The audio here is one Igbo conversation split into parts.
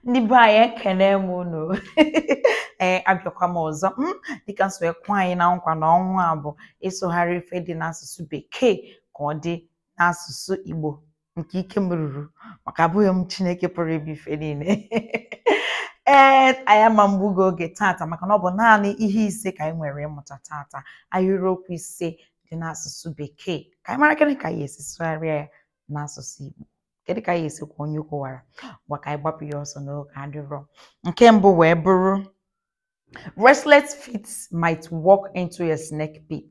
ndị be anyị ekene m unu ee abịakwa m ọzọ m dịka m si ekwe anyị na nkwa na ọnwa a bụ ịsụgharị ife dị n'asụsụ bekee ka ọ dị n'asụsụ igbo nke ike m ruru maka abụghị m chineke pụrụ ime ife niile ee anyị ama mgbugo oge tata maka na ọ bụ naanị ihe ise ka anyị nwere ịmụta tata ahịrịokwu ise dị n'asụsụ bekee ka anyị marakwanụ ka anyị esi sụgharịa ya n'asụsụ igbo kedu ka anyị esi kwaa onye ukwu wara ngwa ka anyị gbapụ ya ọsọ na oge adịrọ nke mbụ wee bụrụ restless feet might walk into a snake pit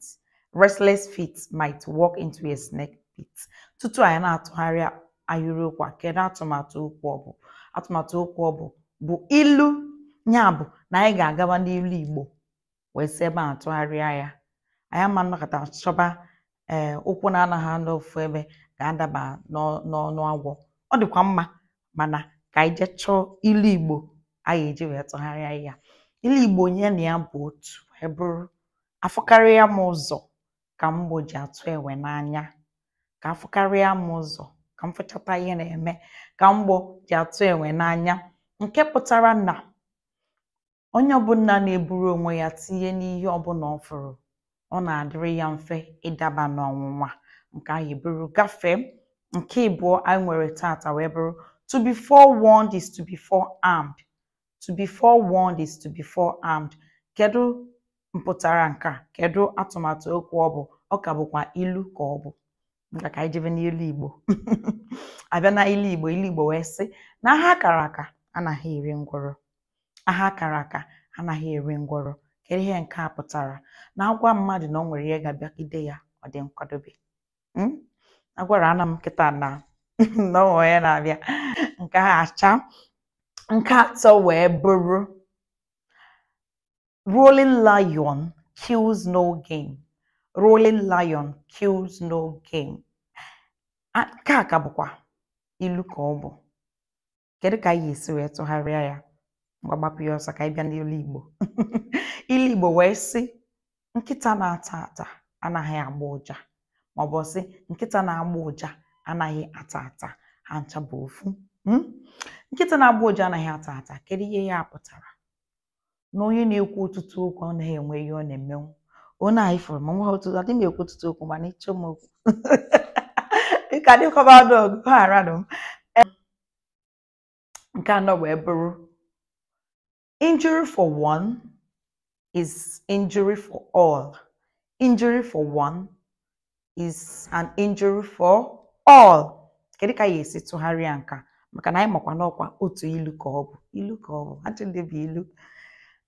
restless feet might walk into a snake pit tutu anyị na-atụgharị ahịrịokwu a kedu atụmatụ okwu ọ bụ atụmatụ okwu ọ bụ bụ ilu ya bụ na anyị ga-agaba n'ilu igbo wee si ebe a tụgharịa ya anyị ama nnọkata chọba ee eh, ụkwụ na-anaghị anọ ofu ebe ga-adaba n'ọnụ agwọ ọ dịkwa mma mana ka anyị jee chọọ ilu igbo anyị eji wee tụgharịa ya ilu igbo nya na ya bụ otu wee bụrụ afụkarịa m ụzọ ka mgbọ ji atụ enwe n'anya ka afụkarịa m ụzọ ka m fụchata ihe na-eme ka mgbọ ji atụ enwe n'anya nke pụtara na onye ọbụla na-eburu onwe ya tinye n'ihe ọbụla ọ fụrụ ọ na-adịrị ya mfe ịdaba n'ọnwụnwa nke ahụ eburu gafee nke ịbụọ anyị nwere tata wee bụrụ to be forewarned is to be forearmed to be forewarned is to be forearmed kedu mpụtara nke a kedu atụmatụ okwu ọ bụ ọ ka bụkwa ilu ka ọ bụ nke a ka anyị jebe n'ilu igbo abịa na ilu igbo ilu igbo wee sị na aha a kara aka anaghị eri ngwọrọ aha a kara aka anaghị eri ngwọrọ kedu ihe nke a pụtara na a gwa mmadụ na o nwere ihe ga-abịagide ya ọ dị nkwadobe hmm? agwara ana m kịta na na o nwere ihe na-abịa nke a acha nke atọ wee bụrụ Roaring lion kills no game. Roaring lion kills no game. A- Nke a ka bụkwa ilu ka ọ bụ. Kedu ka anyị esi wee tụgharịa ya? Ngwa gbapụ ya ọsọ ka anyị bịa n'ilu Igbo. Ilu Igbo wee sị nkịta na-ata ata anaghị agba ụja maọbụ sị nkịta na-agba ụja anaghị ata ata ha ncha bụ ofu. Mm? Nkịta na-agba ụja anaghị ata ata kedu ihe ya pụtara? na onye na-ekwu ọtụtụ okwu ọ naghị enwe ihe ọ na-emenwu onye anyị fụrụ ma nwa otu adị m ekwu ọtụtụ okwu mana ị chọọ m okwu dịka dịkọba ọdụ ọgụ ghara m nke anọ wee bụrụ injury for one is injury for all injury for one is an injury for all kedu ka ị ya-esi tụgharịa nke a maka na anyị makwa n'ọkwa otu ilu ka ọ bụ ilu ka ọ bụ achị ndị bụ ilu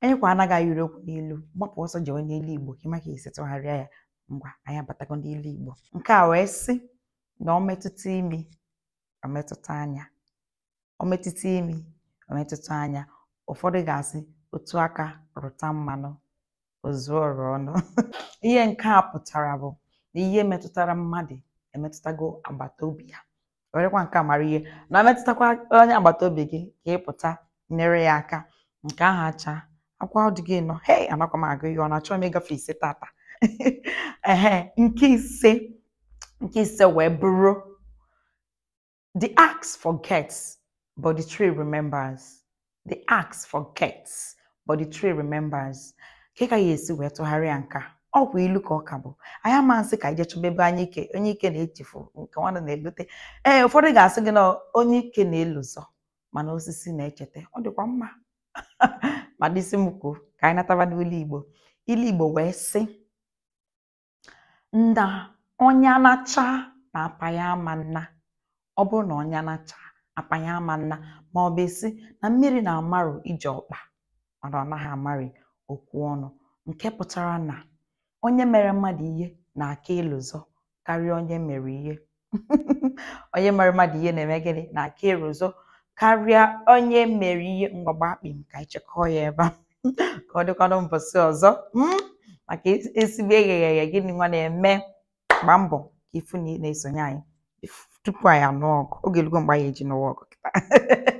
anyị kwa anaghị ewere okwu n'ilu gbapụ ọsọ jewe n'ilu igbo ka ị ma ka ị ya-esi tụgharịa ya ngwa anyị abatago n'ilu igbo nke a wee sị na ọ metụta imi ọ metụta anya ọ metụta imi ọ metụta anya ụfọdụ ga-asị otu aka rụta mmanụ o zuo ọra ọnụ ihe nke a pụtara bụ na ihe metụtara mmadụ emetụtago agbata obi ya werekwa nke a mara ihe na-emetụtakwa onye agbata obi gị ka ị pụta nyere ya aka nke ahụ achaakwa ọ dịgo ịnọ hei anakwa m agụ ihe ọnụ achọghị m ịgafe ise tata ehe nke ise nke ise wee bụrụ The axe forgets, but the tree remembers. The axe forgets, but the tree remembers. Kee ka ị ya-esi wee tụgharịa nke a? Ọ bụ ilu ka ọ ka bụ. Anyị ama nsị ka e je chọba ebe anyụike anyụike na-echefu nkụ nwa na-elote. Ee, ụfọdụ ga-asị gị na anyụike na-elozọ mana osisi na-echeta. Ọ dịkwa mma. ma dịsị m kwuo ka anyị nataba n'ilu Igbo. Ilu Igbo wee sị na ọnya naachaa na apa ya ama nna ọ bụrụ na ọnya naachaa apa ya ama nna ma ọ bụ a sị na mmiri na-amarụ ije ọkpa mana ọ naghị amarị okwu ọnụ nke pụtara na onye mere mmadụ ihe na-aka elozọ karịa onye e mere ihe onye mere mmadụ ihe na-eme gịnị na-aka elozọ karịa onye e mere ihe mgbagba akpị m ka anyị chịkọọ ya ebe a ka ọ dịkwanụ mbọsị ọzọ mm, maka ezigbo egheghị eghe gịnị nwa na-eme gbaa mbọ ka ị fụ na ị na-esonye anyị tupu anyị anụọ ọgụ oge elugo mgbe anyị eji nụwa ọgụ kịta